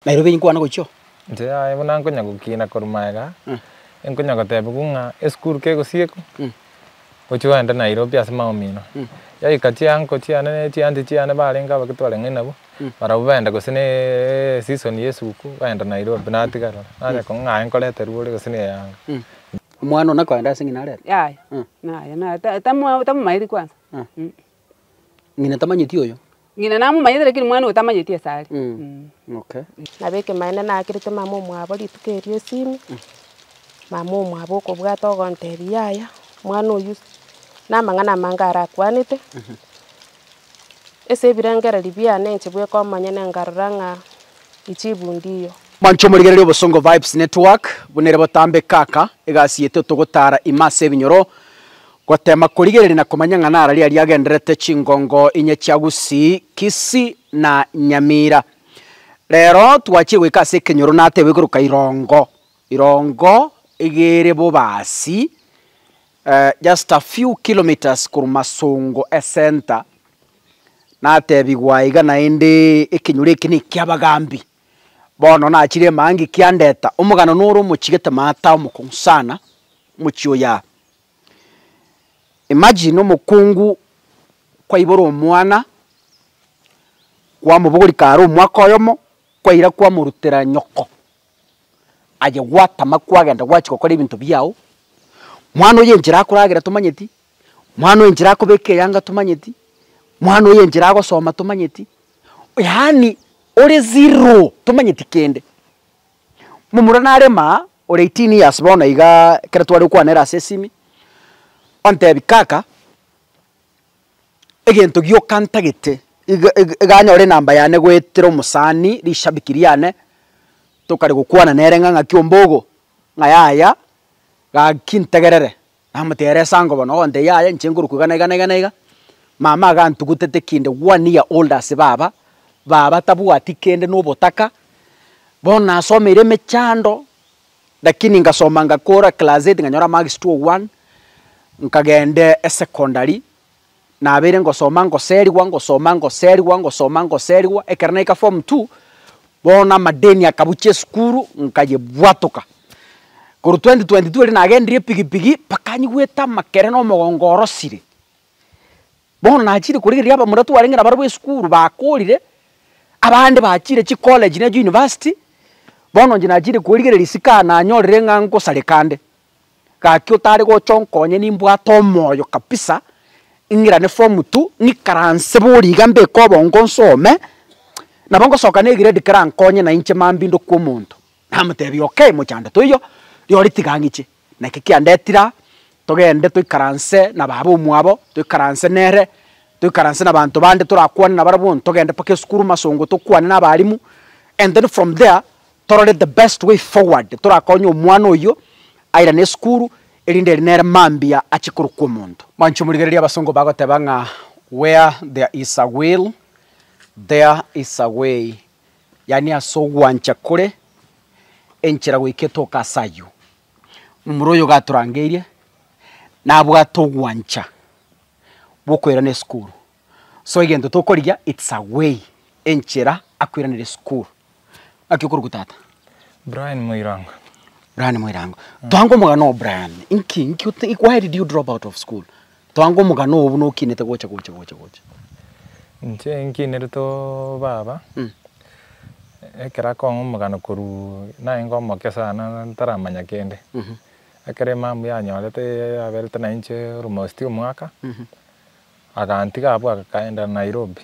Nairobi nkwana gochio. Inche aye buna nkonya gokina korwa magega, nkonya gotebigwa ng'a esukuru kegosiekwa, gochia ogende Nairobi ase maomino. Yaika chianko chiane ne chianchi chiane barenge abake twarenge nabwo, barabwo baenda gose ne eseason ya esuku, baenda Nairobi natigara ore. Nanye kong'a ng'a aye nkoreterwa ore gose na eyanga. Omwana one akoenda ase ng'ina arere? Yaya, naye naye ta- ta- tamomaeti kwansa. Ng'ina tamanyeti oyo. Ng'ina namomanyete lakini mwana oyo tamanyeti ase are. Okay. Nabo ekemanera nakerete mama omwabo rituko erio esimi, mama omwabo okobwata ogontebia yaya mwana oyio namang'ana amange arakwanete, ase ebirengererio biane inche bweka omonyene nkarora ng'a ichibu ndiyo. Manche omorigereria Obosongo Vibes Network, buna ere botambe kaka, egasi yeito togotara ime ase ebinyoro, Goteema korigereria na komanya ng'a nara riria riagendererete chingongo inye chia Gusii, Kisii na Nyamira. Rero twachire goika ase ekenyoro nateebwa igoroka irongo, irongo iga ere bobaasi just a few kilometres korwa Masongo ecenter, nateebigwa iga naende ekenyoro eke nekia abagambi. Bono nachire emangi kiandeta omogano noro omochigete maata omokong'u sana, omochie oyaa. Imagine omokungu kwaibora omwana, kwamobogori kare omwaka oyomo, kwaira kwamorutera nyoko, aye gwatama kwagenda gwachia gokora ebinto biao, mwana oyo enchera akoragera tomanyeti, mwana oyo enchera akobeka eyanga tomanyeti, mwana oyo enchera agosoma tomanyeti, yaani ore zero tomanyeti kende. Momura narema ore eighteen years bono iga ekero tware gokwanera ase esimi, ontebi kaka, egento gioka ntagete iga iga iga anyore enamba yane goetera omosani rishabiki riane, tokare gokwana nere ng'a ng'aki ombogo, ng'a yaya, gaki ntegerere Namoteera esango bono, ogontee yaya inche nkorokwa iga na iga na iga na iga, mama agantugutete kinde one year old ase baba, baba tabwati kende na obotaka, bono nasomeire emechando, lakini ngasoma ngakora class eight nkanyora marks two one, nkagenda esecondary. Nabeire ngosoma ngoserigwa, ngosoma ngoserigwa, ngosoma ngoserigwa, ekero naika form two, bono amadeni akabucha esukuru, nkayebwatoka. Korwa twenty twenty two erio nagendirie epigipigi, mpaka nyigwete amakere na omogongo orosire. Bono nachire korigereria abamura twarenge nabarabwo esukuru bakorire, abande bachire chicollege na euniversity, bono inche nachire korigereria isiko aa nanyorire ng'a ngosareka nde. Gaki otare gocha onkonye nimbwate omoyo kabisa ng'irane form two ng'ikaranse boria iga mbeke obongo nsome nabo ngosoka ne grade kerankonye na inche mambia ndokwe omonto. Namotebia okay mochando toiyo rirorio tiga ang'iche. Naki kiandetire aa togende toikaranse na baba omwabo toikaranse nere toikaranse na abanto bande torakwane nabarabwo togende mpaka esukuru masongo tokwane na abalimu and then from there Torore the best way forward torakonye omwana oyio airane esukuru erinde ere nere mambia ache korokwa omonto. Mwancho morigererie abasongo bagoteba ng'a where there is a will there is a way yaani ase ogwancha kore enchera goika etoka ase ayio. Momura oyo iga atorangeirie nabwate ogwancha bwokoirana esukuru So egento tokorigia it's a way, enchera akoiraneria esukuru. Naki okoruga tata? Brian Moirango. Brian Moirango. Toange omogano oo Brian. Inki inki ote- why did you drop out of school? Toange omogano oo buna okinete gocha gocha gocha gocha. Inche nkinerete oo baba, Mm. ekero akong'a omogano korwa naye ngomokia sana ntaramanya kende. Ekero emambu yanyorete yaberete nainche almost omwaka, Agantiga abwo agakaenda Nairobi.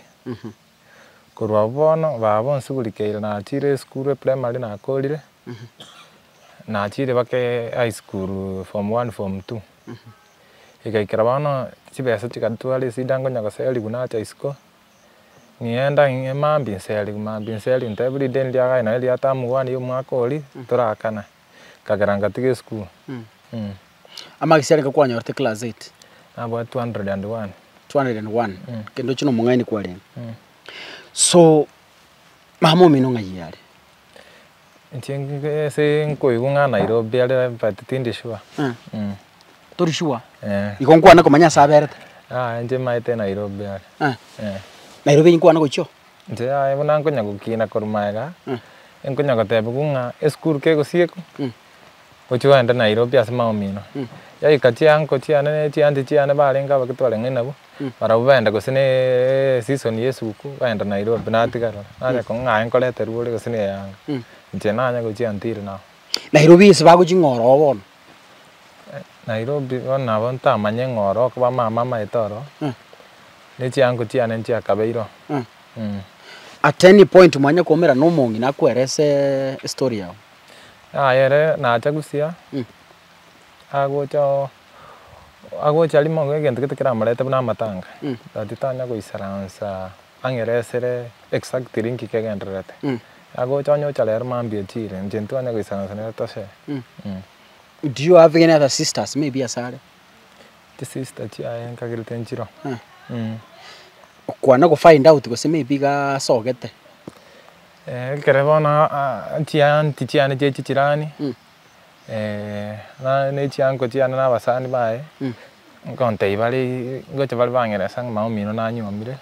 Korwa abwo bono baba bonsi buri keire nachiire esukuru eprimary nakorire, nachiire baka high school form one form two. Igaikera bono chibesa chigatwara esida nkonya goserigwa nacha isiko, ng'enda ng'e mambia nserigwe mambia nserigwe ntebwa rinde ndiagae nonye ria term one ya omwaka oria torakane. nkagera ngatiga esukuru. Amagisi arenge kwanyorete class eight? Nabwate 201. 201? Kende ochia nomong'aini kwarenge. So, mama omino ng'ai are? Inche ase nkoigwa ng'a Nairobi are but tindi sure. Tori sure? Eeh. Igo nkwane komanya ase aberete? Aye inche maete Nairobi are. Nairobi eyi nkwane gochio? Inche yaye buna nkonya gokina korwa magega, nkonya gotebigwa ng'a esukuru kegosiekwa, gochia gogenda Nairobi ase maomino. Yaika chianko chiane ne chianchi chiane barenge abake twarenge nabwo, barabwo baenda gose ne eseason ya esuku, baenda Nairobi natigarana. Nanya kong'a ng'a aye nkorete rwore gose ne eyanga, inche nanya gochia ntiri nao. Nairobi ase bagochia ng'a oroo bono. Nairobi bono nabo ntamanye ng'a oro okoba mama amaete oro, ne chiango chiane nchiakabeire oo mm. At any point mwanya koumera na omong'ina akwerese estory yao? Yaya ere nacha gusya, agocha oo agocha rimo egento gete keramorete buna amatanga, but tanya goisaransa. Ang'eresire exactly nki kegendererete. Nagocha onye ocha rero mambia echire, inche ntibanye goisanasana tose. Do you have any other sisters maybe asare? Chisister chiaye nkagire tinchiro. Okwana go find out gose maybe iga asogete? Ekero bono chiaunty chiane chie chijirani, na nechiango chiane nabasani baye, ngontebia bare ngocha bare bang'eresa ng'a mama omino nanyuomire,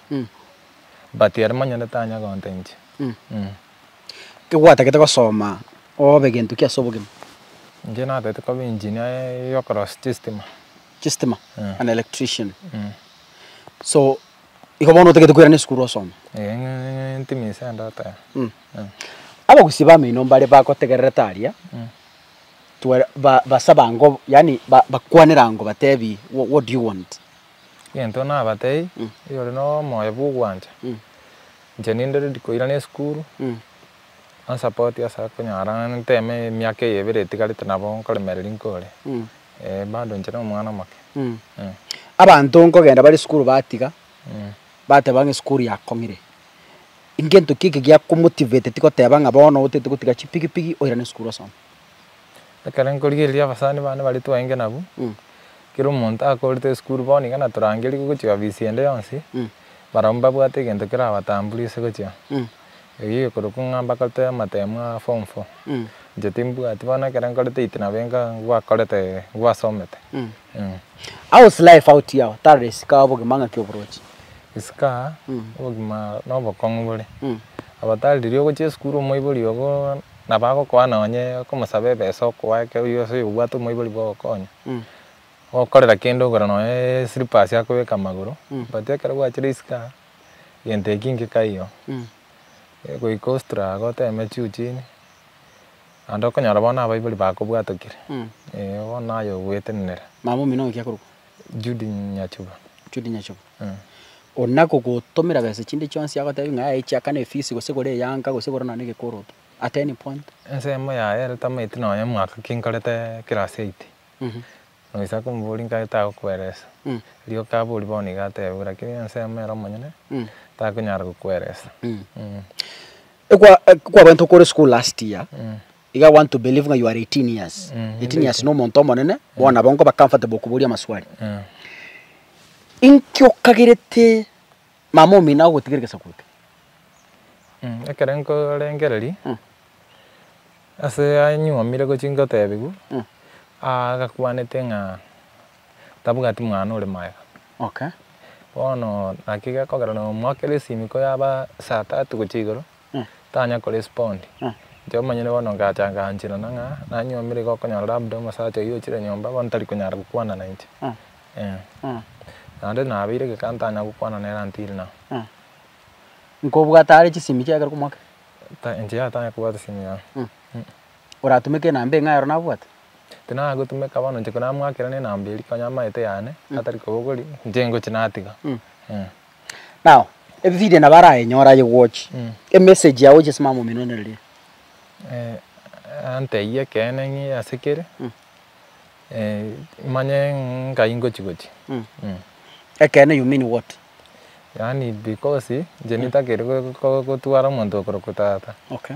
but ere monyene nigo tanya gonta inche. Kegwatagete gosoma obe gento ki ase obogima? Inche natagete koba engineer yokorosisha chistima. Chistima? Eh. An electrician. So, igo bono otagete koirana esukuru osome? Ee, ng'e ng'e ntimise ande oteba. Abagusii b'ameino mbare bagotegererete aria, tware ba basaba ngo yaani ba bakwanera ngo batebi wha what do you want? Egento nabatebie, oyore nomoyo bwa ogwancha, inche ninde ready koirana esukuru, onsapotie ase konyara nteme emiaka eye ebere etigarete nabo nkoremereria nkore, eh bado inche nomwana omoke. Abanto nkogenda bare esukuru batiga, bateba ng'a esukuru yakong'ire, Ingento ki eke giakomotivate tigoteba ng'a bono otete gotiga chipigipigi oirane esukuru osome? Ekero nkorigereria abasani bane baria twaenge nabwo, kera omonto akorete esukuru bono iga natorangeria gochia ofisi ende yonsi, barabwo mbabwate egento kerabatamburie ase gochia. Erio egekorokwa ng'a mbakorete amatemu a form four, inche timbwati bono ekero nkorete eight nabo enka ngwakorete ngwasomete. How is life out here otare esika obogima ng'aki oborochi? Esika obogima nobokong'u bore obatari riria ogochia esukuru omoibori ogo nabo agokoa nonye komosaba ebesa okoa ekero oyio ase oyobwate omoibori bwogokonya gokorera kende ogora nonye eslippers akobeka amagoro but ekero gwachire esika gento eki ngika iyo egoika ostruggle oteme juu chini. Naende okonyora bono abaibori bakobwatokire, ee, bono naye ogwetenenera. Mama omino oyo ki akorokwa? Judy Nyachuba. Judy Nyachuba. Eeh. Ore nakogotomera besa chinde chionsi agotebia ng'a yaya echiaka na efisi gose gore eyanka gose gore nonye gekoroto at any point? Ensemo yaye ere tamaeti nonye mwaka ki nkorete class eight. Ngoisa komoboria nkare tagokweresa. Rioka aborie bono iga atebe bo lakini ensemo ere omonyene takonyara gokweresa. Ekwa kwabaete okore school last year iga i want to believe ng'a you are eighteen years. Eighteen years na omonto omonene bono nabo nkoba comfortable okoboria amaswali. Inki okagerete Mama omino agogotigera egesaku eke. Ekero nkorengereria, ase anyuomire gochia ngotebiwa, agakwanete ng'a tabwati mwana ore magega. Bono naki gekogera na omwaka ere esimiko yaba saa tatu gochia igoro. Tanya ko respond. Inche omonyene bono ngacha nganchirana ng'a nanye omire iga okonyora labda omosacha oyio ochire nyomba bono tari konyara gokwana na inche. Naende nabeire geka ntanya gokwana nere until now. Nkobwate are chisimi chiaye ekero okomoaka? Ta inche yatanya kobwate simu yane. Oratumeke enamba eng'ae ero nabwate? Tinana gotumeka bono inche konamoakera ne enamba eria konya amaete yane atari kobogori inche ngochi natiga. Now, ebibiria nabo arayenyore aye gwochi, emessage yago ochisimame amo omino nere riria. Eh, antebie ekeene ng'e ase kere, Mm. eh, manye ngai ngochi gochi. Mm. Mm. Ekeene you mean what? Yaani because, inche nitagete go- go- gotwara omonto okorokwa tata. Okay.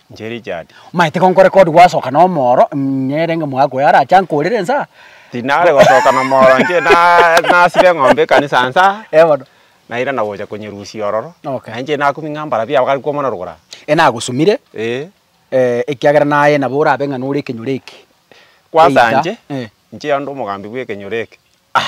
inche Richard. Omanyete ko nkore kod gwasoka nomoro, nere ng'a mwaka oyo arache ankorere ensa? Tinare gosoka nomoro inche na nasire eng'ombe ekanisa nsa, Eh bono. naira na gocha konyerusia ororo, Okay. na inche nakumia ng'a mbarabia aba gari kwomana rogoro aa. Eh nagosumire, Eh, eh, ekiagera naye nabo orabe ng'a nore ekenyoro eke. kwansa Either, inche, eh. inche onde omogambi bw'ekenyoro eke. Ah.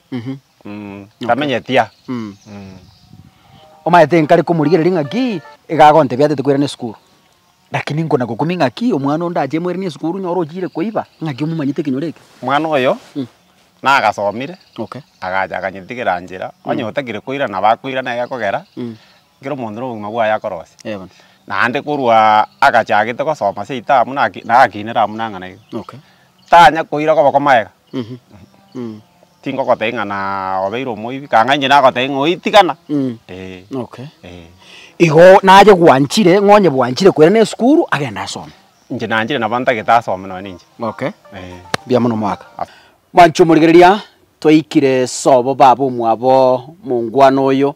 Mhm. Mm, tamenyeti a. Mm. Mm. Omaete inkare komorigereria ng'aki iga agontebia atete koirana esukuru. Lakini nkona gokumia ng'aki omwana onde ache moiranie esukuru nyora ochiire koiba ng'aki omomanyete ekenyoro eke. Mwana oyo Mm. nagasomire Okay. agacha akanyetigera njera onye otagire koirana nabo akoirana egekogera Mm. Ekero omonto nobogima bwaye akorosia, Eeh bono. naende korwa agachagete gosoma seito amo naki nagakinere amo nang'ana iga, Okay. tanya koira koba komaega, Mhm. Mm. tingogotebia ng'a naa obeire omoibi, kang'ai inche nagotebie ng'a oitigana, Mm. eeh, Okay. eeh. Igo naye gwanchire, ng'a onye bwanchire koira na esukuru, agende asome. Inche nanchire nabo ntagete asome nonye ninche, Okay. eeh. Mbuya mono omogaka. Mwanchi omorigereria, twaikire sobo baba omwabo mongwana oyo.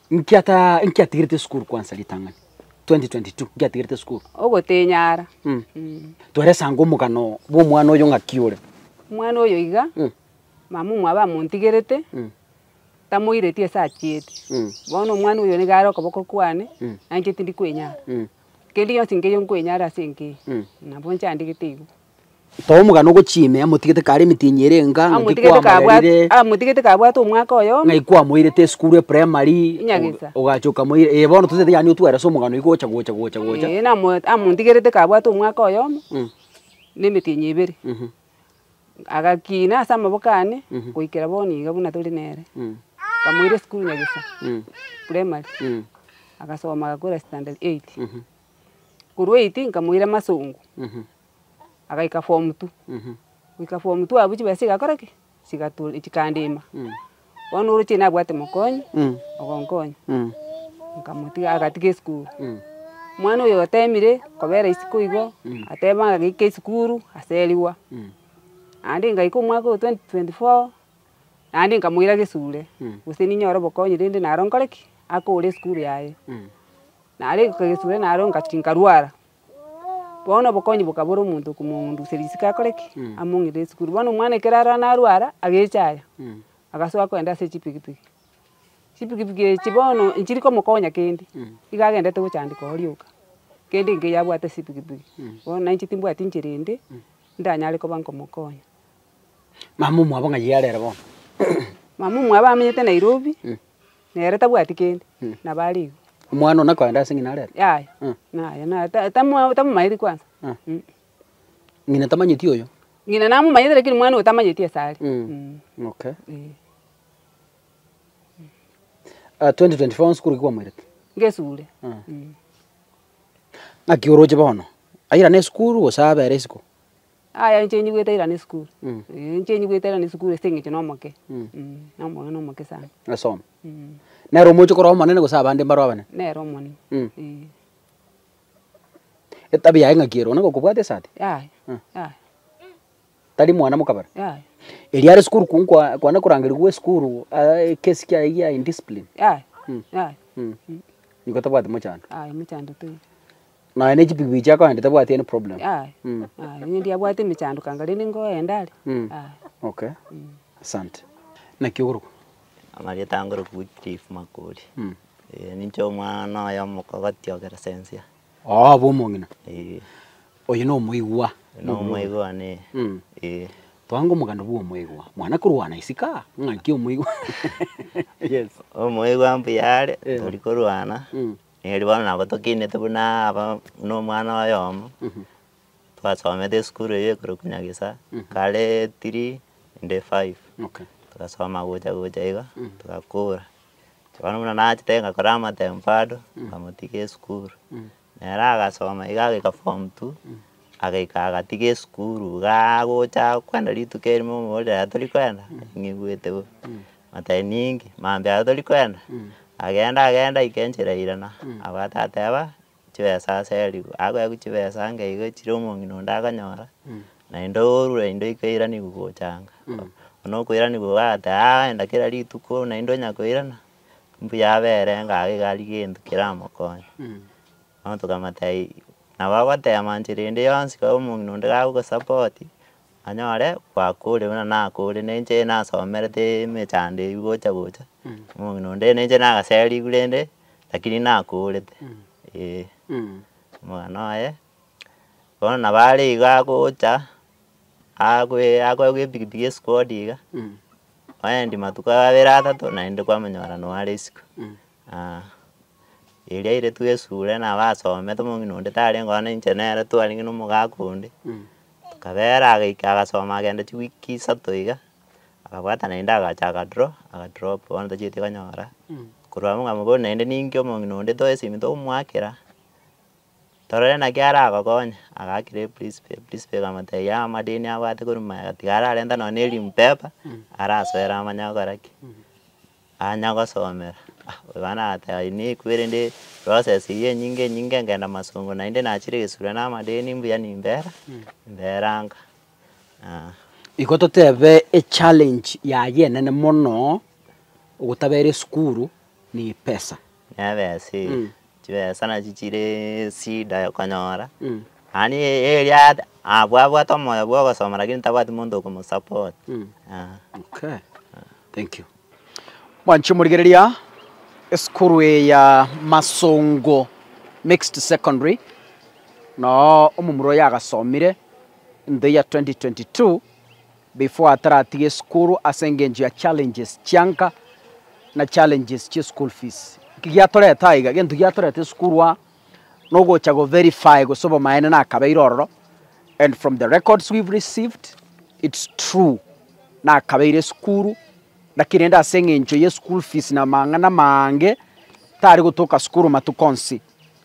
Inki ata inki atigerete esukuru kwansa ritang'ani 2022 inki atigerete esukuru Ogotenyara. Mm. Mm. twerese ango omogano bw'omwana oyo ng'aki ore Omwana oyo iga, Mm. mama omwabo amontigerete, Mm. tamoireti ase achieti. Mm. Bono omwana oyo niga are okoboko kwane, Mm. na inche tindi kwenyara. Mm. Kende gionsi nkeiyo nkwenyara ase enkeyo, Mm. nabo inchandigete igo. Too omogano ogochia ime, amotigete kare emitienyi ere enga, ng'aki Amotigete kabwa- kwamoreire, amotigete kabwate omwaka oyomo. ng'aki kwamoirete esukuru eprimary, Nyagesa. oga- ogacha okamoira, ee bono totaete yaani otware ase omogano igo gocha gocha gocha gocha. Ee, namo amontigerete kabwate omwaka oyomo, Mm, na emetienyi ebere. mhm, Agakina ase amaboko ane, Mhm. goikera bono iga buna tore nere. mm, Nkamoira esukuru Nyagesa, mm, primary, mm, agasoma agakora standard eight. mhm. Korwa eiti nkamoira masongo, agaika form two, goika form two abwo chibesa chigakora ki? Chigato chikandima. Bono oroche nabwate mokonyi, ogonkonya, nkamotiga agatiga esukuru. Omwana oyo otemire kobera isiko igo, ateba ng'ake esukuru, aserigwa. Naende ngaika omwaka oyo twenty twenty four. Naende nkamoiraga esure, gose ninyore obokonyi, rende naro nkore ki? Akore esukuru yaye. Nare goika gesure naro ngachia nkarwara, bono obokonyi bokabora omonto komong'unduseria isiko akore ki? Among'inere esukuru. Bono omwana ekero arara narwara, agecha aya, agasoa kogenda ase chipikipiki. Chipikipiki echi bono nchiri komokonya kende, iga agendete gochandeka oo rioka, kende nkeiyo abwate ase epikipiki. Bono nainche timbwati nchera ende, ndanyare koba nkomokonya. Mama omwabo ng'ai are ere bono? Mama omwabo amenyete Nairobi, nere tabwati kende, nabo are igo. Omwana one akoenda ase ng'ina are ere? Yaya, naye naye ta- tamwa tamomaeti kwansa. Ng'ina tamanyeti oyo? Ng'ina namomanyete lakini omwana oyo tamanyeti ase are. Okay. Eeh. twenty twenty four nsukuru ki kwamoirete? Ngesure. Ng'aki oroche bono? Aira nesukuru gose abera isiko? Aya inche nigo etairana esukuru, eh, inche nigo etairana esukuru ase eng'encho na omoke, na omong'ina omoke sana. Asome. Nere omoche korwa omonene gose abande mbaro abanene? Nere omonene, eh. Etabia yaye ng'aki ere one gokobwata esati? Yaya, yaya. Tari mwana mokabera? Yaya. Erio are sukuru ku- nkwa kwane korangeria gwa esukuru aa ekesi kiaye gia indiscipline? Yaya, yaya. Nigo tabwati mochando? Yaya, mochando toiyo. Nonya ne chipikipiki chiago aye tabwati any problem. Aye, Mm. aye onye ndiabwate emechanduko anga rende ngoenda are, Mm. aye. Okay. Asante. Naki okorokwa? Amarieta ange orokwa Wycliffe Makori. Mm. Eh, ninche omwana oye omokogoti o Keresensia. Oo obo omong'ina. Eh, Oyo na omoigwa. na omoigwa one, Mm. eh. Twange omoganda bwa omoigwa. Mwana korwana isika, ng'aki omoigwa. Yes. Omoigwa mbuya are, Eh. tori korwana. Mm. Erio bono nabo tokinete buna aba buna omwana oyomo, twasomete esukuru eyio ekorokwa nyagesa, kare three inde five, togasoma gocha gocha iga, togakora, bono buna nachete ngakora amatemba ande, ngamotiga esukuru, nere agasoma iga agika form two. Agaika agati gesukuru igaa gocha kwenda rituko erimo omoborere yaya tori kwenda, ning'igwete bo. Matayo ninki? Maambia yaya tori kwenda? Agenda agenda aike enchera ya irana, abwate ateba, chibesa ase erigwa. Akoewa chibesa ange iga chire omong'ina onde akanyora, naende orure inde oika oiraniwe gochanga. Buna okoiraniwa iga agateba aa enda kera rituko naende onyakoirana, mbuya abere ng'a iga aria gento keramokonye. Bono tokamata nabo agoteema nchera ende yonsi kabe omong'ina onde gagosupport anyore gwakore buna nakore na inche nasomerete emechando eyio gocha gocha omong'ina onde na inche nagaseriwu rende lakini nakorete eh. Omogano oye bono nabo are iga agocha akoe akoegwa epikipiki esiko odiga oendi matuko abere atato naende kwamonyora noware isiko. Aa, eria ere twesure nabasomete, omong'ina onde tarenge oo nainche nere twarenge na omogaka onde, kabera agaika agasoma agenda chiweek isato iga, akabwata naende agacha aga draw, aga drop bono tacheti konyora, korwa abwo nkamobori naende ninki omong'ina onde toe esimi togomoakera, torore naki aragokonye, agaakera eprinsipal, eprinsipal ekamotebia amadeni abwate korwa ime iga tiga ararenta nonye na erim paper, arasoera amanye agokora ki. Anya gosomera, oyoa nagateba, Inee eku ere ndi process eyio enyinge enyinge ngenda masongo naende nachire egesurwa na amadeni mbuya nimbera mberanga ah. Igo totebe echallenge yaye enene mono ogotabera esukuru ni epesa. Nebese, chibesa nachi chire esida yokonyora, mani eria abwo abwate omoyo bwogosoma lakini tabwati monto okomosupport. Okay, thank you. Mwanche omorigereria, esukuru eye ya Masongo Mixed Secondary, noo omomura oyo agasomire intho ya 2022. Before ataratige esukuru ase engencho ya challenges chianka na challenges chia eschool fees. Eki giatorete aiga, egento giatorete esukuru aa nogocha go verify gose obomaene nakabeire ororo and from the records we've received it's true nakabeire esukuru naki rende ase engencho ye school fees na amang'ana amange tari gotoka sukuru matuko onsi.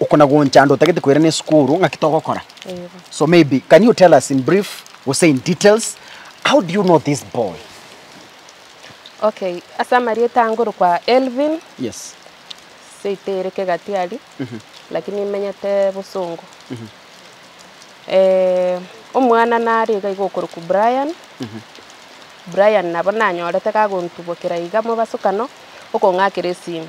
okona goncha ande otagete koirana esukuru ng'aki togokora so maybe can you tell us in brief gose in details how do you know this boy Okay, ase amarieta ange orokwa Elvin, yes seito ere Kegatiari, lakini imenyete Bosongo. Eh, omwana nare iga iga okorokwa Brian, Brian nabo nanyorete kagontubokera iga mobasokano, okong'akera esimi.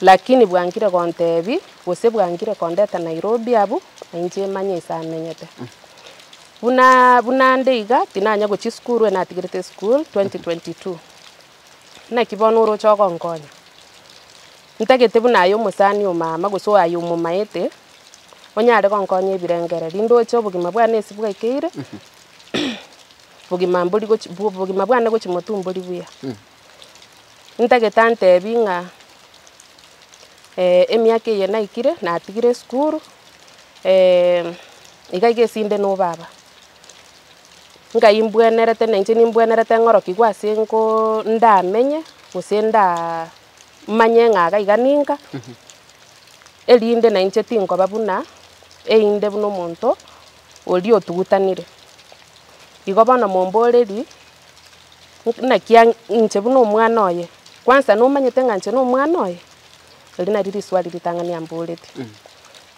Lakini bwangire gontebi, gose bwangire kondeta Nairobi abwo nainche emanye ase amenyete. Buna buna nde iga, tinanya gochia esukuru, ere natigerete esukuru 2022. Naki bono oroche ogonkonya? Ntagete buna aye omosani omama gose aye omomaete, onyare gonkonya ebirengererio, ndoche obogima bwane ase bwaikeire, bogima mbori gochi bogima bwane gochia motu mbori buya. ntagete antebi ng'a emiaka eye naikire natigire esukuru, iga iga esinde no baba. Nkai mbwenerete na inche nimbwenerete ng'orokigwe ase nkoo ndamenye gose ndaa manye ng'a iga iga ninka, erinde na inche tinkoba buna einde buna omonto oria otugutanire. Igo bono momborerie naki ang'e inche buna omwana oye, kwansa nomanyete ng'a inche nomwana oye? Erio nario riswali ritang'ani amborete.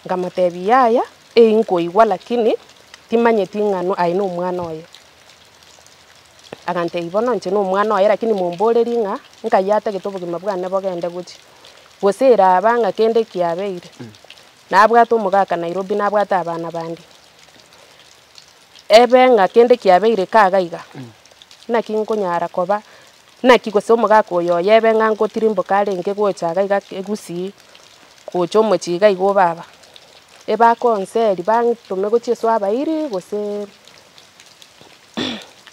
Nkamotebia yaya, eyi nkoigwa lakini timanyeti ng'ano aye nomwana oye. Agantebia bono inche nomwana oye lakini momborerie ng'a nkai atagete obogima bwane bogende gochia, gose eraba ng'a kende kiabeire, nabwate omogaka Nairobi, nabwate abana bande. ebe ng'a kende kiabeire kaga iga, naki nkonyara koba naki gose omogaka oyo oye ebe ng'a ngotirimboka arenge gocha iga iga Gusii, gocha omochie iga iga o baba. Ebakonseri bantome gochia Yeso abairi gose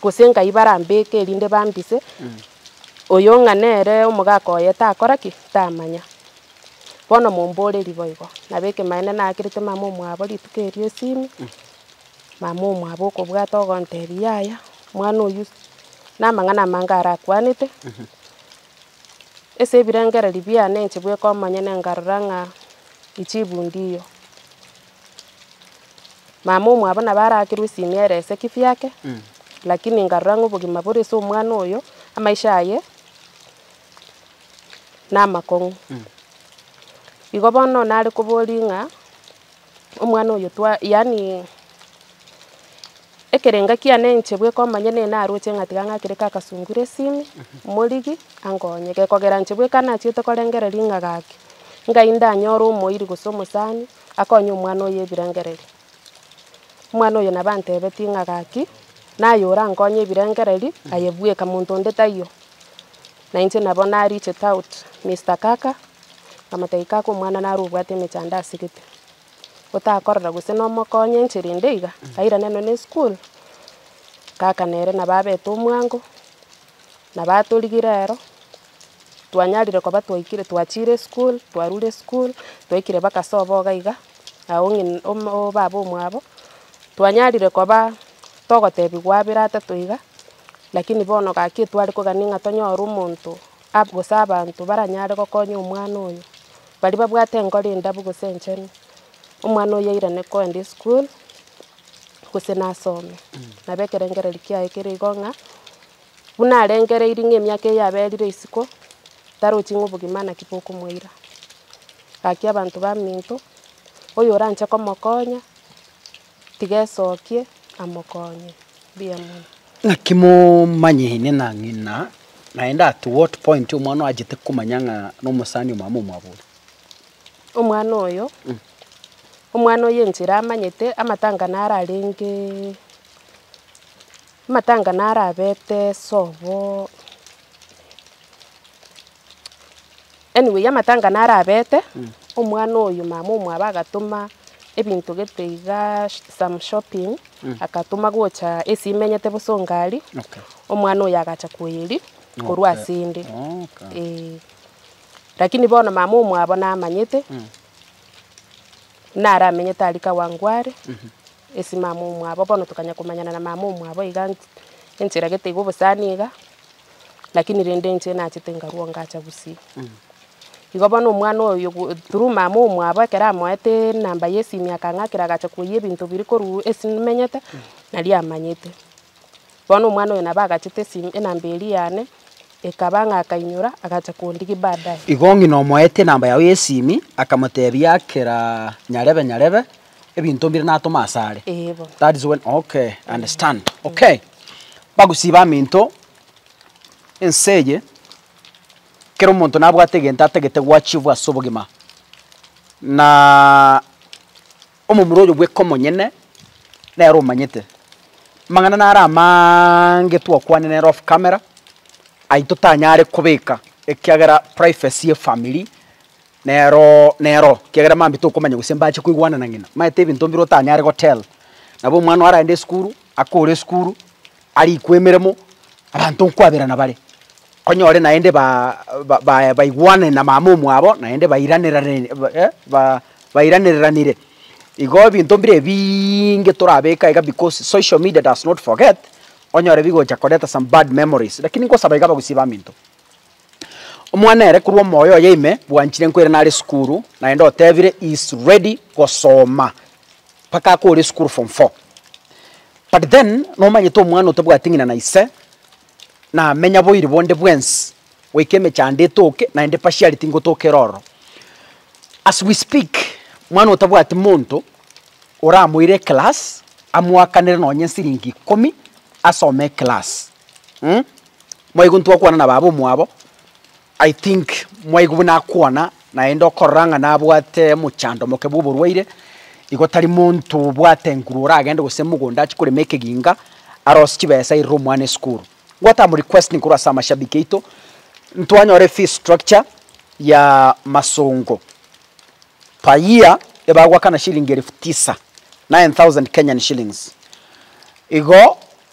gose nkai barambeke erinde bambise, oyo ng'a nere omogaka oye takora ki? tamanya. Bono momborerie boigo, nabo ekemanera nakerete mama omwabo rituko erio esimi, mama omwabo okobwata ogontebia yaya, omwana oyio namang'ana amange arakwanete, ase ebirengererio biane inche bweka omonyene nkarora ng'a ejibu ndiyo. Mama omwabo nabo arakerwa esimi ere ase kefee ake, lakini nkarora ng'a obogima bore ase omwana oyo, amaisha aye. namakong'u. Igo bono nare koboria ng'a omwana oyo twa yaani ekerenga kiane inche bweka omanye nigo naroche ng'a tiga ng'akere ka kasungure esimi, morigie ankonye. Gekogera inche bweka nachiete korengereria ng'a gaki, ngai ndanyore omoiri gose omosani akonye omwana oyo ebirengererio. Omwana oyo nabo antebetie ng'a gaki, naye orankonye ebirengereri, aye bweka, monto onde taiyo. Na inche nabo na reached out Mister Kaka, nkamotebia Kaka omwana nare obwate emechando ase gete, otakorora gose nomokonye enchera ende iga, airane nonya eschool. Kaka nere nabo abete omwango, nabo atorigire ero, twanyarire koba twaikire, twachire eschool, twarure eschool, twaikire mpaka sobo iga iga. na o baba omwabo, twanyarire koba togotebigwa abere atato iga, lakini bono gaki etware kogania ng'a tonyore omonto ab- gose abanto baranyare gokonya omwana oyo, baria babwate enkoro endabu gose enchenu, omwana oyio airane kogenda esukuru gose nasome, nabo ekerengererio kiaye kere igo ng'a. Buna arengereiri ng'a emiaka eye yaberire isiko, tarochi ng'a obogima naki bokomoira. Gaki abanto baminto, oyoranche komokonya, tiga esokie amokonye. Mbuya mono. Naki momanyeine na ng'ina, naende at what point omwana oyo achete komanya ng'a nomosani omamo omwabori? Omwana oyo, omwana oyo enchera amanyete, amatang'ana ararenge Amatanga naro abete sobo, anyway amatanga naro abete, omwana oyo mama omwabo agatoma ebinto gete igaa some shopping, agatoma gocha ase emenyete bosa ongari, Okay. omwana oyo agacha koeria korwa Okay. asende. Okay. Eh. Lakini bono mama omwabo namanyete, naramenyete aria Kawangware. ase mama omwabo, bono tokanya komanyana na mama omwabo iga enche eragete iga obosani iga, lakini rende inche nachete nkarua ngacha gusii. Igo bono omwana oyo ogo through mama omwabo ekero amoete enamba ya esimi akang'akera agacha koiyia ebinto biria korwa ase menyete, naria amanyete. Bono omwana oyo nabo agachete esimi enamba eria yane, ekaba ng'a akainyora agacha kondigia baadaye. Igo ng'ina omoete enamba yago ya esimi, akamotebia kera nyarebe nyarebe, ebinto mbire natoma ase are. Ee bono. That is when okay I understand. Okay. Bagusii baminto ense eye kera omonto nabwate egento atagete goachievwa ase obogima na omomura oyo bweka omonyene nere omanyete. Amang'ana naro amaange twakwanire nere off camera, ayio totanyare kobeka ekiagera privacy y'efamiri Nero nero, ekiagera mambia tokomanya gose mbache koigwana na ng'ina. Maete ebinto mbire otanyare gotell. Nabo omwana aragende esukuru, akore esukuru, arikwe emeremo, abanto nkwaberana bare. Onyore naende ba ba ba baigwanane na mama omwabo, naende bairanerane ba eh ba bairanereranire. Igo ebinto mbire ebiiinge torabeka iga because social media does not forget, onyore bigocha koreta some bad memories. Lakini nkosaba iga abagusii baminto. Omwana ere korwa omoyo oye ime bwanchire nkoira nare esukuru naende otebire he is ready gosoma mpaka akore esukuru form four. But then nomanyete omwana otabwati ng'ina na ise namenya boiri bonde bwensi goika emechando etoke naende pashiari tingotokera ororo. As we speak mwana otabwati monto oramoire eclass amoakanere nonye esiringi ikomi asome eclass mh. Mwaigwa ntwakwana na baba omwabo, I think mwaigwa buna akwana naende okorora ng'a nabwate omochando omoke bwa oborwaire, igo tari monto obwate nguru oragende gose mogondo achie korema ekeginga arose chibesa airere omwana esukuru. Gwatama requesting korwa ase amashabiki aito, ntwanyore fee structure ya masongo per year ebagoakana shilingi elfu tisa, nine thousand Kenyan shillings. Igo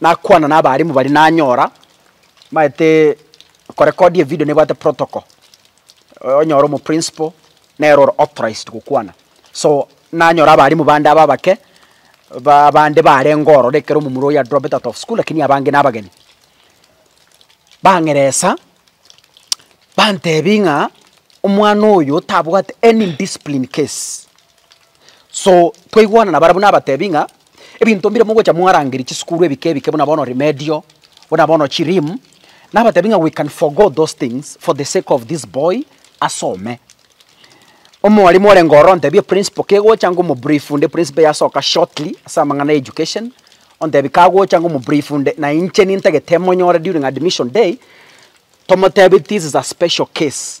nakwana nabalimu baria nanyora mbaete korekodia evidio nebwate protocol, onyore omoprinciple nere ore authorized gokwana. So nanyora abalimu bande aba abake, ba abande barenge ororo ekero omomura oyo adropped out of school lakini abange nabageni, bang'eresa bantebi ng'a omwana oyo tabwate any indiscipline case. So twaigwana nabarabwo nabatebi ng'a. Ebinto mbire mogocha mwarangeria chisukuru ebike ebike buna bono Remedio, buna bono chiRim, nabatebi ng'a we can forgo those things for the sake of this boy asome. Omwarimu orenge ororo ontebie principal kegocha ngomubrief nde principal yasoka shortly ase amang'ana ya education, ontebie kagocha ngomubrief nde na inche nintagete emonyore during admission day, tomotebi this is a special case.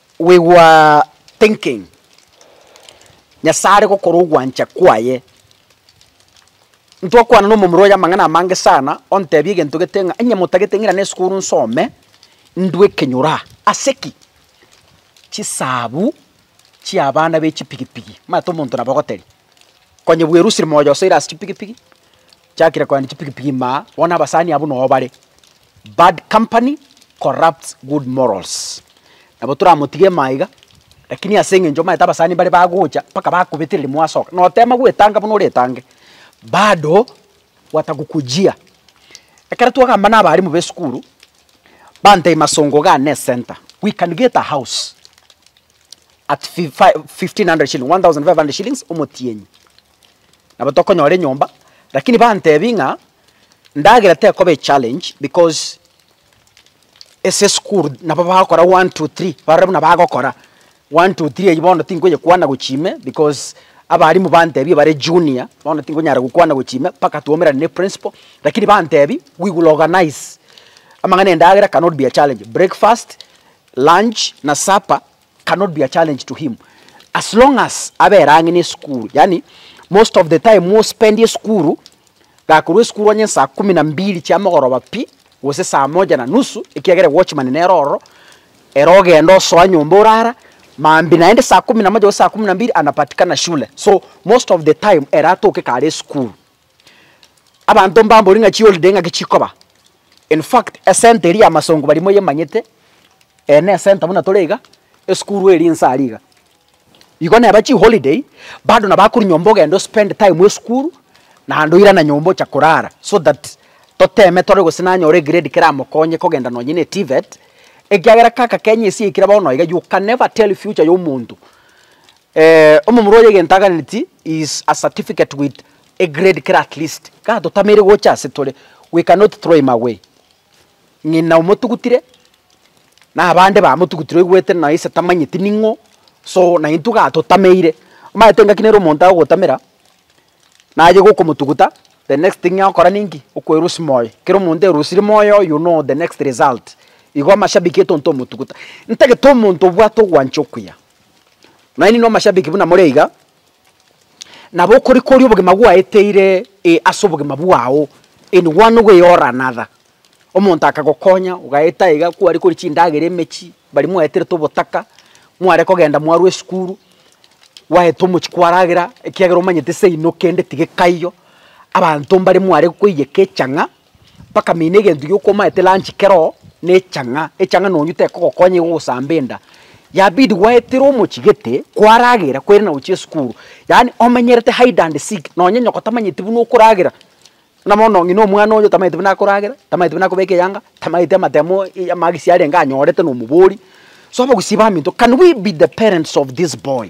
We were thinking, Nyasae are gokora ogwancha kwaye. Ntwakwana na omomura oye amang'ana amange sana, ontebia egento gete ng'a onye motagete ng'ira na esukuru nsome, ndue ekenyoro aa. Ase ki? Chisabu chi'abana be chipigipigi, omanyete omonto nabo ogoteria. Onye bwerusire moyo osoire ase chipigipigi, chakire koenda chipigipigi maa, bono abasani abwo noo bare. Bad company corrupts good morals. Nabo toramotige maa iga, rakini ase eng'encho omanyete abasani mbare bagocha mpaka bakobetereri mwasoka, notema gwetanga buna oretange, bado watagokujia. Ekero twagamba na abarimu ba esukuru, bantebia masongo iga ane esenta, we can get a house. at fi- fi- 1500 shilling 1500 shillings omotienyi nabo tokonyora enyomba lakini bantebi ng'a ndagera tekoba echallenge because ase esukuru nabo bagokora one two three barore buna bagokora one two three eywo bono tinkoyekwana gochia ime because abalimu bantebie bare junior bono tinkonyara gokwana gochia ime mpaka twaumerane ne principal lakini bantebi we will organise amang'ana endagera cannot be a challenge breakfast lunch na supper cannot be a challenge to him as long as abere ang'e n'esukuru yaani most of the time ospend esukuru gakorwa esukuru onye saa kumi na mbili chia mogoroba pi gose saa moja na nusu ekiagera watchman nere ororo ere ogenda osoa nyomba orara maambia naende saa kumi na moja gose saa kumi na mbili anapatikana shule so most of the time ere atoke kare esukuru. Abanto mbambori ng'a chiholiday ng'aki chikoba, in fact esenta eria y'amasongo baria moyemanyete, eye nesenta buna tore iga, esukuru eri inse aria iga. Igo neba chiholiday bado nabo akorwa nyomba ogenda ospend time esukuru, naende oirane nyomba ocha korara so that toteme tore gose nanyore egrade keramokonye kogenda nonye ne TVET, ekiagera kaka Kenya esiaikire bono iga, you can never tell future y'omonto. Omomura oye egento aganeti is a certificate with a grade kere at least ka totameire gocha ase tore we cannot throw him away. Ng'ina omotugutire na abande bamotugutire oigwete na ise tamanyeti ning'o so na intwe ga totameire. Omanyete engaki nere omonto agogotamera naye gokomotuguta the next thing agokora ninki? Okwerusia moyo. Kero omonto erusiri moyo you know the next result. Igo amashabiki etonto omotuguta. Ntagete omonto obwate ogwancha okuya. Nonya ninwe amashabiki buna more iga, nabo okorikoria obogima gwaeteire ase obogima bwao in one way or another. Omonto akagokonya ogaeta iga kwarikoria chindagera emechie, baria mwaeterete obotaka, mware kogenda mwarwa esukuru, gwaeta omochie kwaragera ekiagera omanyete seino kende tiga ekaiyo, abanto mbaria mware koiyeka echang'a. bakamina egento gioka omanyete lunch kero na echang'a, echang'a nonye tekogokonya igo ogosamba enda, yabidi gwaetera omochigete kwaragera kwerende nagochia esukuru, yaani omenyerete hide and seek nonye nyoko tamanyeti buna okoragera, buna bono ng'ina omwana oyo tamanyeti buna akoragera, tamanyeti buna akobeka eyanga, tamanyeti amatemo ii amagisi arenge anyorete na omobori, so abagusii baminto can we be the parents of this boy?